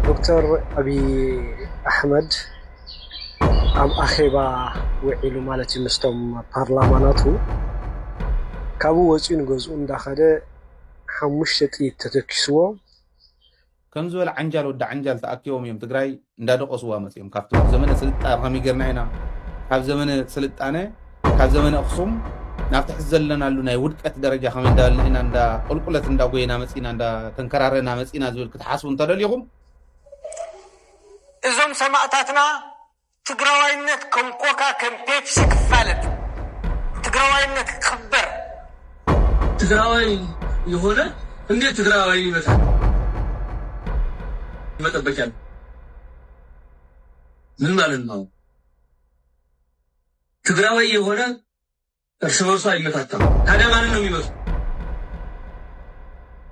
ዶክተር ኣብይ ኣሕመድ ኣብ ኣኼባ ውዒሉ ማለት እዩ ምስቶም ፓርላማ ናቱ ካብኡ ወፂኡ ንገዝኡ እንዳኸደ ሓሙሽተ ጥይት ተተኪስዎ። ከም ዝበለ ዓንጃል ወዲ ዓንጃል ተኣኪቦም እዮም ትግራይ እንዳደቖስዋ መፅዮም ካብቲ ዘመነ ስልጣ ከመይ ገርና ኢና ካብ ዘመነ ስልጣነ ካብ ዘመነ ኣኽሱም ናብቲ ሕዚ ዘለናሉ ናይ ውድቀት ደረጃ ከመይ እንዳበልና ኢና ቁልቁለት እንዳጎየና መፂና እንዳተንከራረና መፂና ዝብል ክትሓስቡ እንተደሊኹም እዞም ሰማእታትና ትግራዋይነት ከም ኮካ ከም ፔፕሲ ክፋለጥ ትግራዋይነት ክኽበር ትግራዋይ የሆነ እንዴት ትግራዋይ ይመስል መጠበቂያ ምን ማለት ነው? ትግራዋይ የሆነ እርስ በርሱ ኣይመታታም ታዲያ ማንን ነው ሚመቱ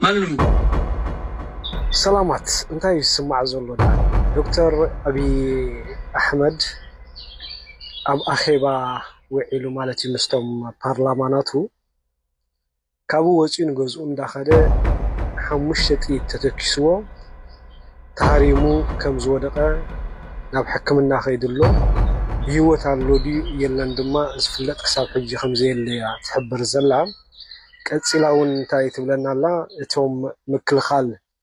ማንን ነው ሚመቱ። ሰላማት እንታይ እዩ ዝስማዕ ዘሎ ድኣ ዶክተር ኣብይ ኣሕመድ ኣብ ኣኼባ ውዒሉ ማለት እዩ ምስቶም ፓርላማ ናቱ። ካብኡ ወፂኡ ንገዝኡ እንዳኸደ ሓሙሽተ ጥይት ተተኪስዎ ተሃሪሙ ከም ዝወደቐ ናብ ሕክምና ከይዱ'ሎ። ብህይወት ኣሎ ድዩ የለን ድማ ዝፍለጥ ክሳብ ሕጂ ከም ዘየለ'ያ ትሕብር ዘላ። ቀፂላ'ውን እንታይ ትብለና ኣላ እቶም ምክልኻል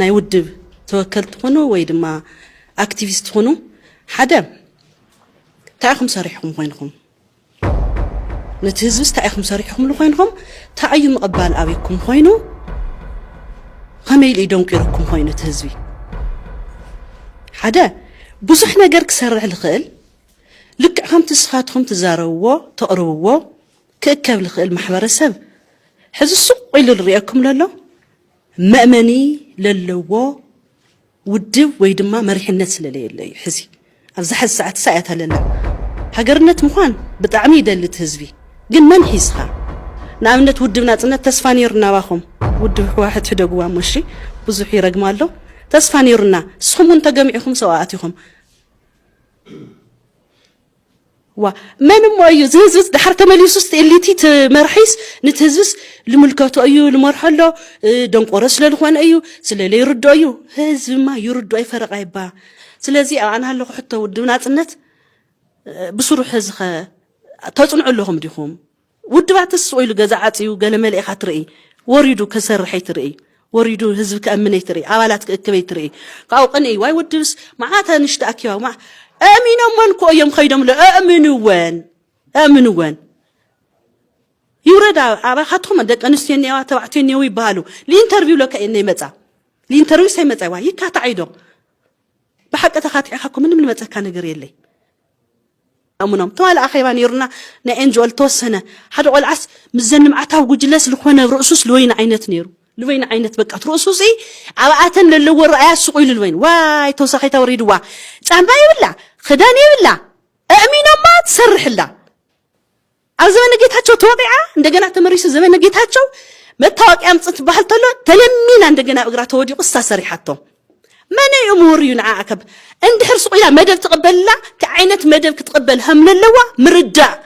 ናይ ውድብ ተወከልቲ ኹኑ ወይ ድማ ኣክቲቪስት ኹኑ ሓደ እንታይ ኢኹም ሰሪሕኹም ኮይንኹም ነቲ ህዝብስ እንታይ ኢኹም ሰሪሕኹምሉ ኮይንኹም እንታይ እዩ ምቕባል ኣብኩም ኮይኑ ከመይ ኢሉ እዩ ደንቂሩኩም ኮይኑ እቲ ህዝቢ ሓደ ብዙሕ ነገር ክሰርሕ ዝኽእል ልክዕ ከምቲ ንስኻትኩም ትዛረብዎ ተቕርብዎ ክእከብ ዝኽእል ማሕበረሰብ ሕዚ ሱቕ ኢሉ ዝርኤኩም ዘሎ መእመኒ ለለዎ ውድብ ወይ ድማ መሪሕነት ስለለየለ እዩ ሕዚ ኣብዛ ሕዚ ሰዓት ሳእያ ተለለ ሃገርነት ምዃን ብጣዕሚ ይደሊ እቲ ህዝቢ ግን መን ሒዝኻ ንኣብነት ውድብ ናጽነት ተስፋ ነይሩ ናባኹም ውድብ ሕዋሕት ሕደግዋ እሞ እሺ ብዙሕ ይረግማ ኣሎ ተስፋ ነይሩና ንስኹም እውን ተገሚዕኹም ሰብኣት ኢኹም ዋእ መን እሞ እዩ እዚ ህዝብስ ድሓር ተመሊሱስ እቲ ኤሊቲ እቲ መርሒስ ንቲ ህዝብስ ልምልከቶ እዩ ልመርሖ ኣሎ ደንቆሮ ስለ ልኾነ እዩ ስለ ለይርድኦ እዩ ህዝብማ ይርድኦ ይፈረቓ ይባ ስለዚ ኣብ ኣና ኣለኹ ሕቶ ውድብ ናጽነት ብስሩሕ እዚ ኸ ተጽንዑ ኣለኹም ዲኹም ውድባት ትስ ኢሉ ገዛ ዓጽዩ ገለ መሊእኻ ትርኢ ወሪዱ ከሰርሕይ ትርኢ ወሪዱ ህዝቢ ከእምንይ ትርኢ ኣባላት ክእክብይ ትርኢ ካብኡ ቅንኢ ዋይ ወድብስ መዓት ንሽቲ ኣኪባ መዓ ኣእሚኖመን ኮ እዮም ከይዶም ለ ኣእምንወን ኣእምንወን ይውረድ ኣባኻትኩም ደቂ ኣንስትዮ እኒዋ ተባዕትዮ እኒው ይበሃሉ ሊኢንተርቪው ለከ እየነይ መጻ ሊኢንተርቪው ሰይ መጻ ይዋ ይካታዕ ኢዶም ብሓቂ ተኻቲዕኻ እኮ ምንም ልመፀካ ነገር የለይ ኣሙኖም ተዋለ ኣኼባ ነይሩና ናይ ኤንጅኦ ልተወሰነ ሓደ ቆልዓስ ምዘን ልምዓታዊ ጉጅለስ ልኾነ ርእሱስ ልወይኒ ዓይነት ነይሩ ልበይኒ ዓይነት በቃ ትርእሱ ሲ ኣብኣተን ለለዎ ረኣያ ስቑ ኢሉ ልበይኒ ዋይ ተወሳኺታ ወሪድዋ ጫማ የብላ ክዳን የብላ ኣእሚኖማ ትሰርሕላ ኣብ ዘመነ ጌታቸው ተወቂዓ እንደገና ተመሪሱ ዘመነ ጌታቸው መታወቂያ ኣምፅ ትበሃል ተሎ ተለሚና እንደገና ኣብ እግራ ተወዲቁ እሳ ሰሪሓቶ መን እዩ ምሁር እዩ ንዓኣ ከብ እንድሕር ሱቅ ኢላ መደብ ትቕበልና እቲ ዓይነት መደብ ክትቕበል ከምለለዋ ምርዳእ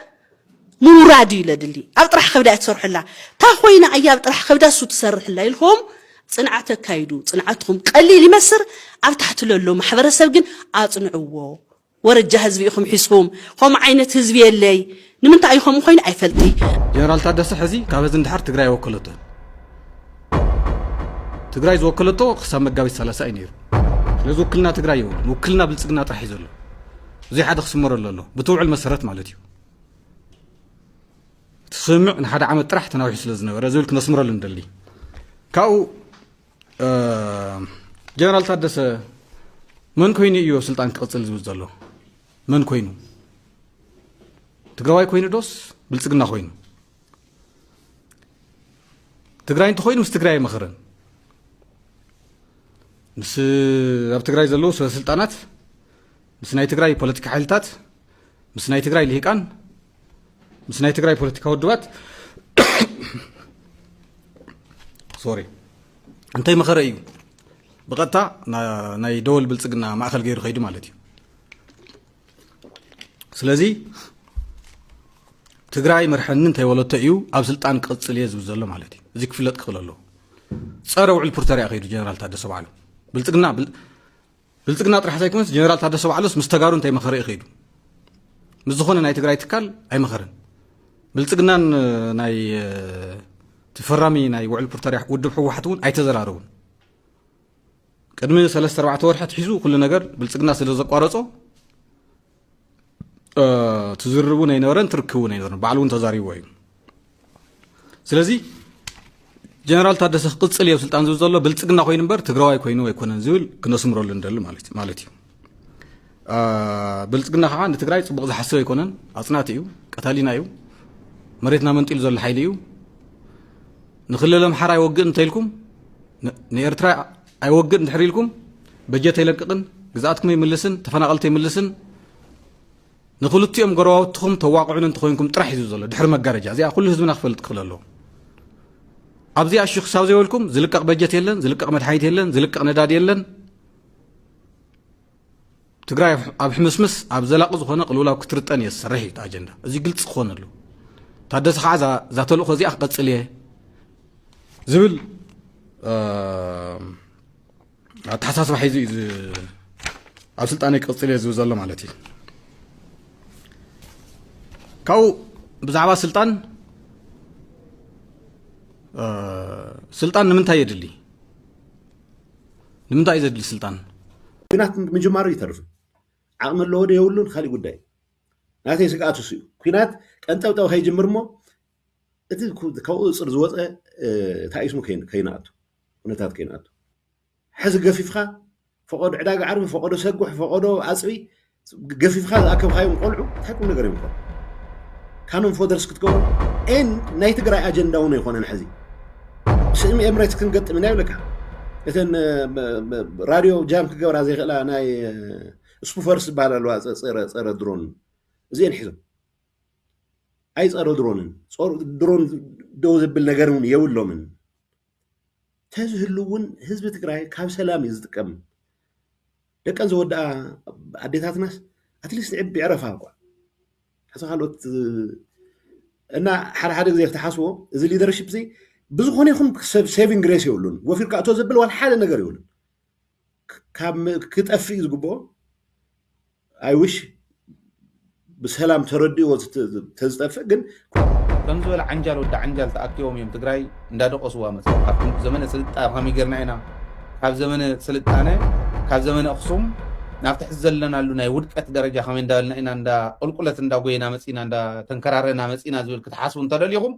ምውራድ እዩ ለድሊ ኣብ ጥራሕ ከብዳ ትሰርሑላ እታ ኮይና እያ ኣብ ጥራሕ ከብዳ እሱ ትሰርሕላ ኢልኩም ፅንዓት ኣካይዱ ፅንዓትኹም ቀሊል ይመስር ኣብ ታሕቲ ለሎ ማሕበረሰብ ግን ኣፅንዕዎ ወረጃ ህዝቢ ኢኹም ሒዝኩም ኸምኡ ዓይነት ህዝቢ የለይ ንምንታይ እዩ ኸምኡ ኾይኑ ኣይፈልጥይ። ጀነራል ታደሰ ሕዚ ካብ ሕዚ ንድሓር ትግራይ ኣይወከለቶን። ትግራይ ዝወከለቶ ክሳብ መጋቢት ሰላሳ እዩ ነይሩ። ስለዚ ውክልና ትግራይ የብሉን። ውክልና ብልፅግና ጥራሕ እዩ ዘሎ። እዙይ ሓደ ክስመረሉ ኣሎ ብትውዕል መሰረት ማለት እዩ። እቲ ስምምዕ ንሓደ ዓመት ጥራሕ ተናዊሑ ስለ ዝነበረ ዝብል ክነስምረሉ ንደሊ ካብኡ ጀነራል ታደሰ መን ኮይኑ እዩ ስልጣን ክቕፅል ዝብል ዘሎ መን ኮይኑ ትግራዋይ ኮይኑ ዶስ ብልፅግና ኮይኑ ትግራይ እንተኮይኑ ምስ ትግራይ ኣይመኽርን ምስ ኣብ ትግራይ ዘለዉ ሰበስልጣናት ምስ ናይ ትግራይ ፖለቲካ ሓይልታት ምስ ናይ ትግራይ ልሂቃን ምስ ናይ ትግራይ ፖለቲካ ውድባት ሶሪ እንተይ መኸረ እዩ ብቐጥታ ናይ ደወል ብልፅግና ማእኸል ገይሩ ከይዱ ማለት እዩ ስለዚ ትግራይ መርሐኒ እንታይ ወለቶ እዩ ኣብ ስልጣን ክቕፅል እየ ዝብል ዘሎ ማለት እዩ እዚ ክፍለጥ ክኽእል ኣለዎ ፀረ ውዕል ፕሪቶሪያ ከይዱ ጀነራል ታደሰ ባዕሉ ብልፅግና ብልፅግና ጥራሕ ዘይኮነስ ጀነራል ታደሰ ባዕሉስ ምስ ተጋሩ እንታይ መኸረ እዩ ከይዱ ምስ ዝኾነ ናይ ትግራይ ትካል ኣይመኸረን ብልፅግናን ናይ ትፈራሚ ናይ ውዕል ፕሪቶሪያ ውድብ ሕወሓት እውን ኣይተዘራረቡን ቅድሚ ሰለስተ ኣርባዕተ ወርሒ ትሒዙ ኩሉ ነገር ብልፅግና ስለ ዘቋረፆ ትዝርብ እውን ኣይነበረን ትርክብ እውን ኣይነበረን ባዕሉ እውን ተዛሪቦ እዩ ስለዚ ጀነራል ታደሰ ክቅፅል እየ ስልጣን ዝብል ዘሎ ብልፅግና ኮይኑ እምበር ትግራዋይ ኮይኑ ኣይኮነን ዝብል ክነስምረሉ ንደሊ ማለት እዩ ብልፅግና ከዓ ንትግራይ ፅቡቅ ዝሓስብ ኣይኮነን ኣፅናቲ እዩ ቀታሊና እዩ መሬትና መንጢሉ ዘሎ ሓይሊ እዩ ንክልል ኣምሓራ ይወግእ እንተኢልኩም ንኤርትራ ኣይወግእን ድሕር ኢልኩም በጀት ኣይለቅቕን ግዝኣትኩም ኣይምልስን ተፈናቐልቲ ኣይምልስን ንክልቲኦም ጎረባብትኹም ተዋቕዑን እንተኮይንኩም ጥራሕ እዩ ዘሎ ድሕሪ መጋረጃ እዚኣ ኩሉ ህዝብና ክፈልጥ ክኽእል ኣለዎ ኣብዚኣ እሺ ክሳብ ዘይበልኩም ዝልቀቕ በጀት የለን ዝልቀቕ መድሓኒት የለን ዝልቀቕ ነዳዲ የለን ትግራይ ኣብ ሕምስምስ ኣብ ዘላቂ ዝኾነ ቅልውላው ክትርጠን እየ ዝሰርሕ እዩ ኣጀንዳ እዚ ግልፂ ክኾን ኣለዎ ታደሰ ከዓ እዛ ተልእኮ እዚኣ ክቐፅል እየ ዝብል ኣተሓሳስባ ሒዙ እዩ ኣብ ስልጣነ ክቕፅል እየ ዝብል ዘሎ ማለት እዩ ካብኡ ብዛዕባ ስልጣን ስልጣን ንምንታይ የድሊ ንምንታይ እዩ ዘድሊ ስልጣን? ኩናት ምጅማሩ ይተርፍ ዓቕሚ ኣለዎ ዶ የብሉን ካሊእ ጉዳይ እዩ። ናተይ ስግኣት እሱ እዩ። ኩናት ቀንጠብጠብ ከይጅምር እሞ እቲ ካብ ቁፅፅር ዝወፀ ታኢስሙ ከይንኣቱ ኩነታት ከይንኣቱ ሕዚ ገፊፍካ ፈቐዶ ዕዳጋ ዓርቢ ፈቐዶ ሰጉሕ ፈቐዶ ኣፅቢ ገፊፍካ ዝኣከብካዮም ቆልዑ እንታይ ቁም ነገር እዮም ኮን ካኖም ፎደርስ ክትገብሩ ኤን ናይ ትግራይ ኣጀንዳ እውን ኣይኮነን ሕዚ ስእሚ ኤምሬትስ ክንገጥም ኢና ይብለካ እተን ራድዮ ጃም ክገብራ ዘይክእላ ናይ ስፑፈርስ ዝበሃል ኣለዋ ፀረ ድሮን እዚአን ሒዞም ኣይፀረ ድሮንን ድሮን ደው ዘብል ነገር እውን የብሎምን ተዝህሉ እውን ህዝቢ ትግራይ ካብ ሰላም እዩ ዝጥቀም። ደቀን ዝወድኣ ኣዴታትናስ ኣትሊስት ዕድመ ይዕረፋ እኳ ሕዚ ካልኦት እና ሓደ ሓደ ግዜ ተሓስቦ እዚ ሊደርሽፕ እዚ ብዝኾነ ይኹን ሰብ ሴቪንግ ግሬስ የብሉን ወፊርካ እቶ ዘብል ዋላ ሓደ ነገር የብሉን ካብ ክጠፍእ እዩ ዝግብኦ ኣይ ዊሽ ብሰላም ተረዲእዎ ተዝጠፍእ ግን ከምዚ ዝበለ ዓንጃል ወዲ ዓንጃል ተኣኪቦም እዮም ትግራይ እንዳደቆስዋ መፅዮም ካብ ጥንቲ ዘመነ ስልጣ ከመይ ጌርና ኢና ካብ ዘመነ ስልጣነ ካብ ዘመነ ኣክሱም ናብቲ ሕዚ ዘለናሉ ናይ ውድቀት ደረጃ ከመይ እንዳበልና ኢና እንዳ ቁልቁለት እንዳጎየና መፂና እንዳተንከራረና መፂና ዝብል ክትሓስቡ እንተደሊኹም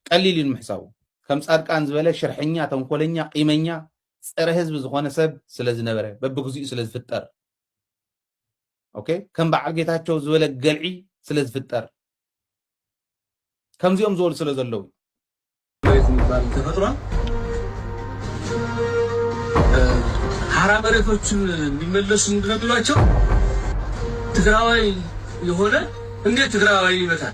ቀሊል እዩ ንምሕሳቡ ከም ፃድቃን ዝበለ ሽርሐኛ ተንኮለኛ ቂመኛ ጸረ ህዝቢ ዝኾነ ሰብ ስለ ዝነበረ በብግዚኡ ስለ ዝፍጠር ኦኬ ከም በዓል ጌታቸው ዝበለ ገልዒ ስለ ዝፍጠር ከምዚኦም ዝበሉ ስለ ዘለዉ መሬት የሚባል ተፈጥሯል። ሀራ መሬቶችን እንዲመለሱ ምንድነው ቢሏቸው ትግራዋይ የሆነ እንዴት ትግራዋይ ይመታል?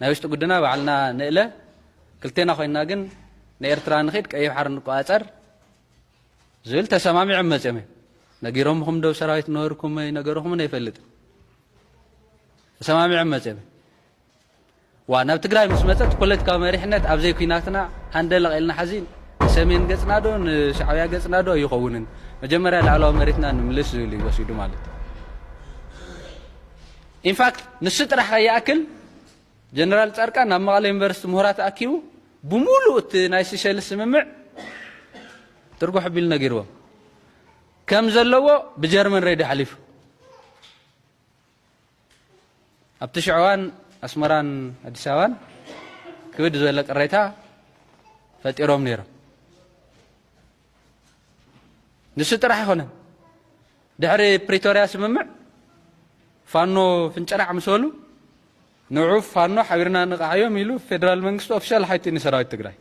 ናይ ውሽጢ ጉድና ባዕልና ንእለ ክልቴና ኮይንና ግን ንኤርትራ ንኺድ ቀይሕ ባሕሪ ንቆጻጸር ዝብል ተሰማሚዖም መጺኦም እዮም ነጊሮምኹም ዶ ሰራዊት ነበርኩም ነገርኹምን ኣይፈልጥን ተሰማሚዖም መጺኦም ዋ ናብ ትግራይ ምስ መፀት ፖለቲካዊ መሪሕነት ኣብ ዘይኲናትና ሃንደለቕ ኢልና ሓዚ ንሰሜን ገፅና ዶ ንሻዕብያ ገፅና ዶ ኣይኸውንን መጀመርያ ላዕለዋ መሬትና ንምልስ ዝብል እዩ ወሲዱ ማለት እዩ ኢንፋክት ንሱ ጥራሕ ከይኣክል ጀነራል ፃድቃን ናብ መቐለ ዩኒቨርሲቲ ምሁራት ኣኪቡ ብሙሉእ እቲ ናይ ሲሸልስ ስምምዕ ትርጉሕ ኣቢሉ ነጊርዎም ከም ዘለዎ ብጀርመን ሬድዮ ሓሊፉ ኣብቲ ሽዑ እዋን ኣስመራን ኣዲስ ኣበባን ክብድ ዝበለ ቅሬታ ፈጢሮም ነይሮም ንሱ ጥራሕ ኣይኮነን ድሕሪ ፕሪቶርያ ስምምዕ ፋኖ ፍንጨራዕ ምስ በሉ ንዑ ፋኖ ሓቢርና ንቃዓዮም ኢሉ ፌደራል መንግስቲ ኦፊሻል ሓይቱ ንሰራዊት ትግራይ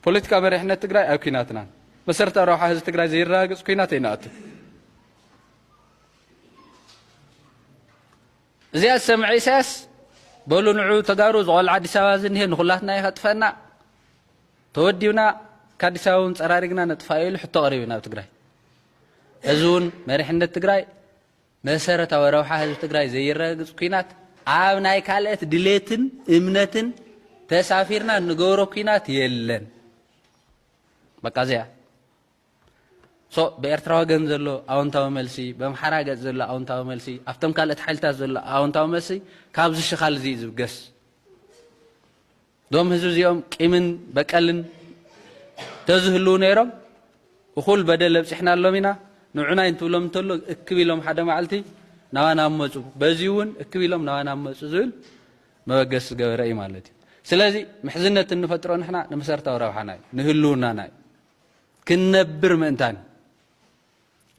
ፖለቲካ መሪሕነት ትግራይ ኣብ ኩናትናን መሰረታዊ ረብሓ ህዝቢ ትግራይ ዘይረጋግፅ ኩናት ኣይንኣቱ እዚኣ ዝሰምዐ ኢሳያስ በሉ ንዑ ተጋሩ ዝቆልዓ ኣዲስ ኣበባ ዝኒሀ ንኩላትና እዩ ከጥፈና ተወዲብና ከኣዲስ ኣበባ እውን ፀራሪግና ነጥፋዮ ኢሉ ሕቶ ቀሪቡ ናብ ትግራይ እዚ እውን መሪሕነት ትግራይ መሰረታዊ ረብሓ ህዝቢ ትግራይ ዘይረጋግፅ ኩናት ኣብ ናይ ካልኦት ድሌትን እምነትን ተሳፊርና እንገብሮ ኩናት የለን በቃ እዚኣ so ብኤርትራ ወገን ዘሎ ኣወንታዊ መልሲ በምሓራ ገጽ ዘሎ ኣወንታዊ መልሲ ኣብቶም ካልኦት ሓይልታት ዘሎ ኣወንታዊ መልሲ ካብዚ ሽኻል እዚ ዝብገስ ዶም ህዝቢ እዚኦም ቂምን በቀልን ተዝህልው ነይሮም እኹል በደል ኣብጺሕናሎም ኢና ንዑናይ እንትብሎም እንተሎ እክብ ኢሎም ሓደ መዓልቲ ናባና መፁ በዚ እውን እክብ ኢሎም ናባና መፁ ዝብል መበገስ ዝገበረ እዩ ማለት እዩ ስለዚ ምሕዝነት እንፈጥሮ ንሕና ንመሰረታዊ ረብሓና እዩ ንህልውናና እዩ ክንነብር ምእንታን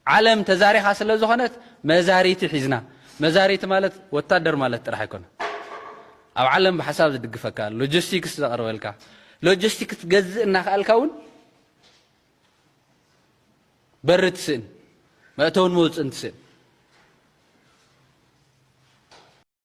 ዓለም ተዛሪኻ ስለ ዝኾነት መዛሪቲ ሒዝና መዛሪቲ ማለት ወታደር ማለት ጥራሕ ኣይኮነ ኣብ ዓለም ብሓሳብ ዝድግፈካ ሎጂስቲክስ ዘቕርበልካ ሎጂስቲክስ ክትገዝእ እናኸኣልካ እውን በሪ ትስእን መእተውን መውፅእን ትስእን